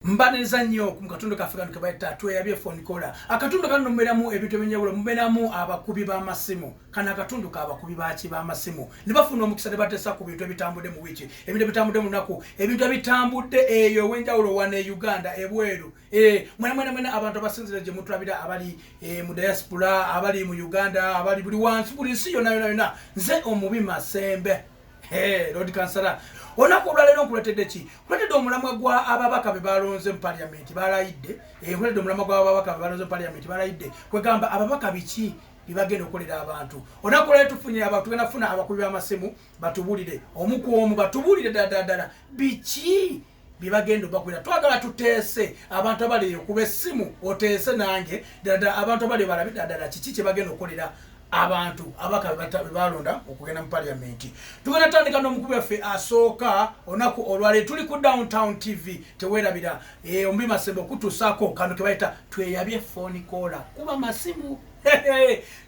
mbaniriza nnyo ku katundu kaffe kano kebayita tweyabye phone kola akatundu kano muberamu ebintu ebyenjawulo muberamu abakubi b'amasimu kano akatundu k'abakubi baki b'amasimu ne bafuna omukisa ne bateesa ku bintu ebitambudde mu wiiki ebintu ebitambudde mu lunaku ebintu ebitambudde eyo ew'enjawulo wano e uganda ebweru eh, mwena mwena mwena abantu abasinzira gye mutulabira abali eh, mu diaspora abali mu uganda abali buli wansi buli nsi yona yona yona nze omubi masembe Hey, Lord Kansala, olunaku olwaleero nkuletedde ki nkuletedde omulamwa gwa ababaka be balonze mu paliamenti balayidde eh, nkuletedde omulamwa gwa ababaka be balonze mu paliamenti balayidde kwegamba ababaka biki bibagenda okolera abantu olunaku olwaleero tufunye abantu tugenda kufuna abakubi b'amasimu batubulire omu ku omu batubulire ddala ddala biki byebagenda obakolera twagala tuteese abantu abaleyo kuba essimu oteese nange dada abantu abaleyo balabe dadala kiki kyebagenda okukolera abantu abaka bebalonda okugenda mu paliamenti tugenda tandika nomukubi waffe asooka onaku olwale tuli ku downtown tv tewerabira eh, ombi masembe okutusako kano kebayita tweyabye foni kola kuba masimu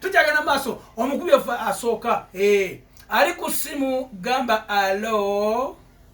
tukyagenda maaso omukubi waffe asooka eh, ali ku simu gamba alo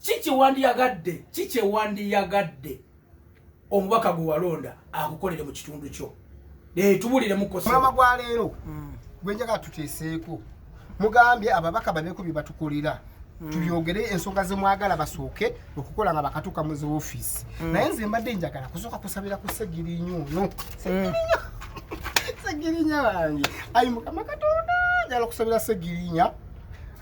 ki kyewandiyagadde ki kyewandiyagadde omubaka gwe walonda akukolere mu kitundu kyo tubuliremukosmama gwa leero mm. gwenjaga tuteeseeko mugambye ababaka babeeko bye batukolera mm. tubyogere ensonga zemwagala basooke okukola nga bakatuuka mu zi ofiisi mm. naye nze mbadde njagala kusooka kusabira ku segirinyo ono segirinya wange ayi mukama katonda njala okusabira segirinya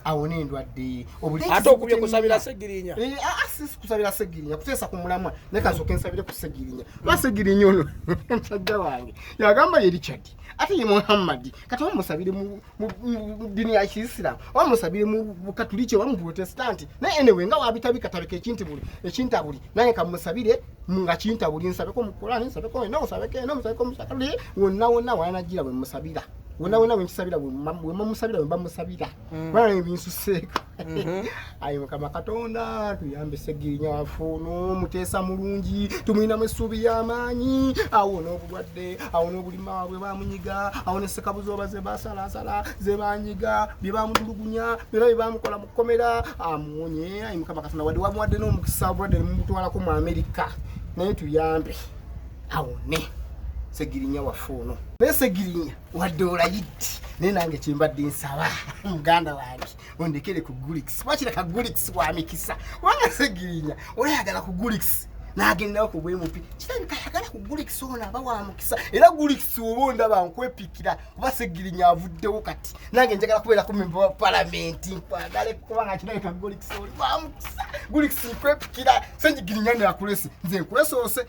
awona endwadde ate okubye kusabira segirinya eh, ah, ah, sisi kusabira segirinya kuteesa ku mulamwa naye kansooka ensabire ku segirinya lwa segirinya ono musajja wange yagamba ye richard ate ye muhammadi kati oba musabire mu dini ya kiisiramu oba musabire mu bukatuliki oba mu protestanti naye enewe nga wabitabikatabika ekintabuli ekintabuli naye kamusabire nga kintabuli nsabeko mukulani nsabeko eno nsabeko eno nsabeko musakali wonna wonna wanajira bwe musabira wena wena wenkisabira wemamusabira webamusabira mm. bana nebinsuseeko mm-hmm. ayi mukama katonda tuyambe segirinya wafu nomuteesa mulungi tumulinamu essuubi yamaanyi awo nobulwadde awo nobulima bwe bamunyiga awo nesekabuzoba zebasalasala zebanyiga byebamutulugunya byona byebamukola mukukomera amuwonye ayi mukama katonda wadde wamuwadde nomukisa obulwadde nemumutwalako mu amerika naye tuyambe awone segirinya waffe ono naye segirinya wadde olayidde naye nange kyembadde nsaba muganda wange ondekere ku gulikisi wakira ka gulikisi wa mikisa kubanga segirinya olayagala ku gulikisi nagendawo ku bwemupi kirabika ayagala ku gulikisi ono aba wa mukisa era gulikisi oba ondaba nkwepikira kuba segirinya avuddewo kati nange njagala kubeera ku memba wa palamenti nkwagale kubanga kirabika gulikisi oli wa mukisa gulikisi nkwepikira segirinya nakulese nze nkulesoose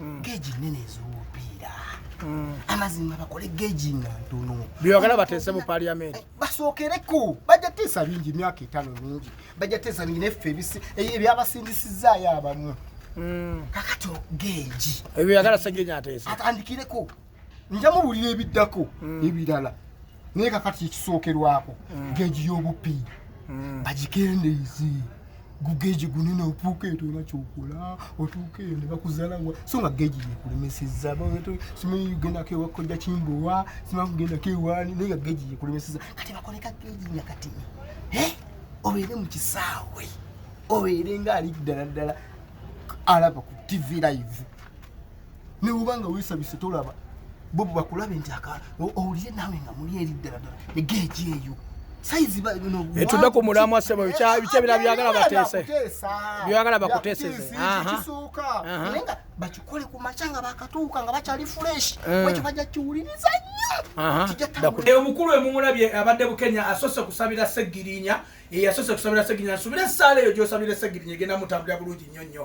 mm. geji nene ezomupiira mm. amazima bakole geji nga ntono byebagala bateese mu paliamenti eh, basookereko bajja teesa bingi emyaka etaano mingi bajja teesa bingi neffe eh, ebyabasindisizaayo abamu mm. kakati geji ebyo yagala segeji ateese atandikireko nja muwulira ebiddako mm. ebirala naye kakati ekisookerwako mm. geji y'obuppi mm. bagikendeeze gugeji gunene otuuka eto era kyokola otuuka eyo ne bakuzalawa so nga geji yekulemeseza simanyi ugendako ewakojja kimbowa simanyi kugendako ewaani naye nga geji yekulemeseza kati bakoleka geji nga kati eh? obeere mu kisaawe obeere nga ali ddala ddala alaba ku tv live newuba nga wesabise tolaba bobo bakulabe nti aka owulire nawe nga muli eri ddaladdala egeegi eyo etude ku mulamwa sebo bikyebira byagala bateese byagala bakuteesezekisooka naye nga bakikole ku makya nga bakatuuka nga bakyali fureshi eh. ekyo bajja kiwuliriza nnyo omukulu emumulabye abadde bukenya asoose kusabira segirinya eyasoose kusabira segirinya nsubira esaala eyo gyosabira segirinya egenda mutambulira bulungi nnyo nnyo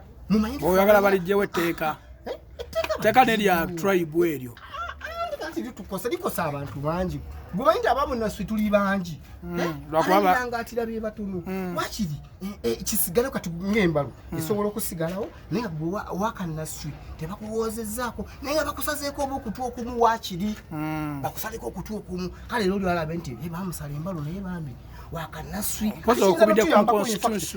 oyagala balijjewo etteeka eh, teeka nerya tribe eryo likosa likosa abantu bangi gwemanyi nti abamu naswe tuli bangi hmm, eh, lwakubaangatira bye batunu hmm. wakiri eh, eh, kisigalewo kati ngaembalo hmm. esobola okusigalawo naye gwe wakanaswe tebakuwoozezaako naye nga bakusazeeko oba okutu okumu wakiri bakusaleko okutu okumu kale era oliwalabe nti bamusala embalo naye bambi wakanaswe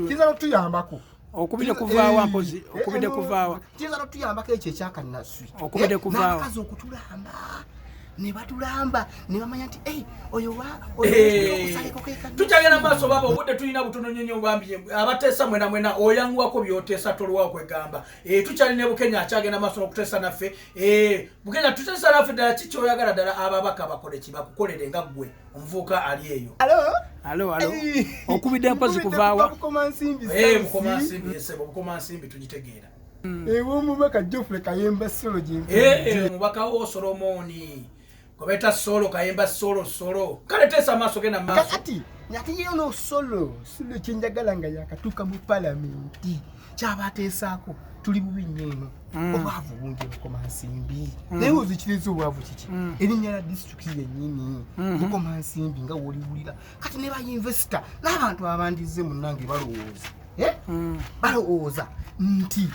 kiyinza notuyambako okubide kuvaawa mpozi eh, eh, okubide eh, kuvaawa kiyinza notuyambako ekyo ekyakanaswi okubide kuvaawa nakazi okutulamba nebatulamba nebamanya nti oyo tukyagenda maaso baba obudde tulina butono nyonyo bambi abateesa mwena mwena oyanguwako byoteesa tolwawo kwegamba tukyali ne bukenya akyagenda maaso nokuteesa naffe bukenya tuteesa naffe ddala kikyoyagala ddala ababaka bakoleki bakukolere nga ggwe omuvuuka ali eyo alo alo okubidde mpozi kuvaawa obukomansimbi tugitegeera hmm. ewomubaka jofre kayemba solo gyemubaka eh, eh, wo solomoni gwebaita solo kayemba solo solo kale teesa amaaso genda maaso kati nateyeyo nosolo solo kyenjagala nga yakatuuka mu palamenti kyabateesaako tuli bubi nnyo eno mm. obwavu bungi bukoma nsimbi mm. naye ozikiriza obwavu kiki mm. erinnya lya disitulikiti yennyini mm-hmm. bukoma nsimbi nga woliwulira kati ne bainvesita n'abantu abandizze munnange balowooza eh? balowooza nti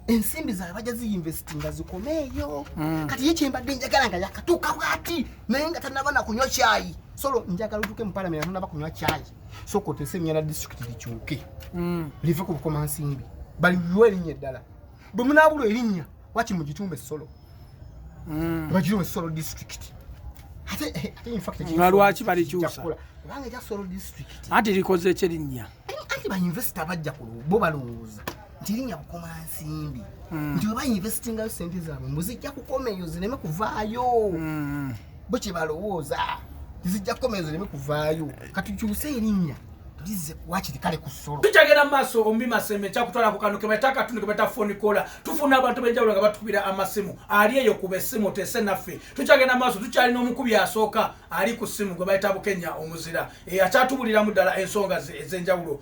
ensimbi zaabwe bajja ziinvestinga zikomeeyo kati ye kyembadde njagala nga yakatuuka bwati naye nga tanaba na kunywa kyayi solo njagala otuuke mu palamenti anonaba kunywa kyayi soka otese enyana district likyuke mm. live ku bukoma nsimbi baliwe erinya eddala bwe munabulwa erinya waki mugitumba esolo mm. bagiruwa esolo district eh, nga lwaki balikyusa kubanga ekya solo district anti likoze ekyerinnya anti bainvesita bajja bo balowooza nti erinya bukoma nsimbi mm. nti webainvestingayo sente zaabwe mbu zijja kukomeyo zireme kuvaayo bo kye balowooza tizijja kukomera zireme kuvaayo katukyuse erinnya tulize wakiri kale ku solo tukyagenda mu maaso ombi maseme kyakutwala ku kano ke bayita akatundu ke bayita foni kola tufuna abantu benjawulo nga batukubira amasimu ali eyo kuba essimu oteese naffe tukyagenda mu maaso tukyalina omukubi asooka ali ku ssimu gwe bayita bukenya omuzira eyakyatubuliramu ddala ensonga ze ez'enjawulo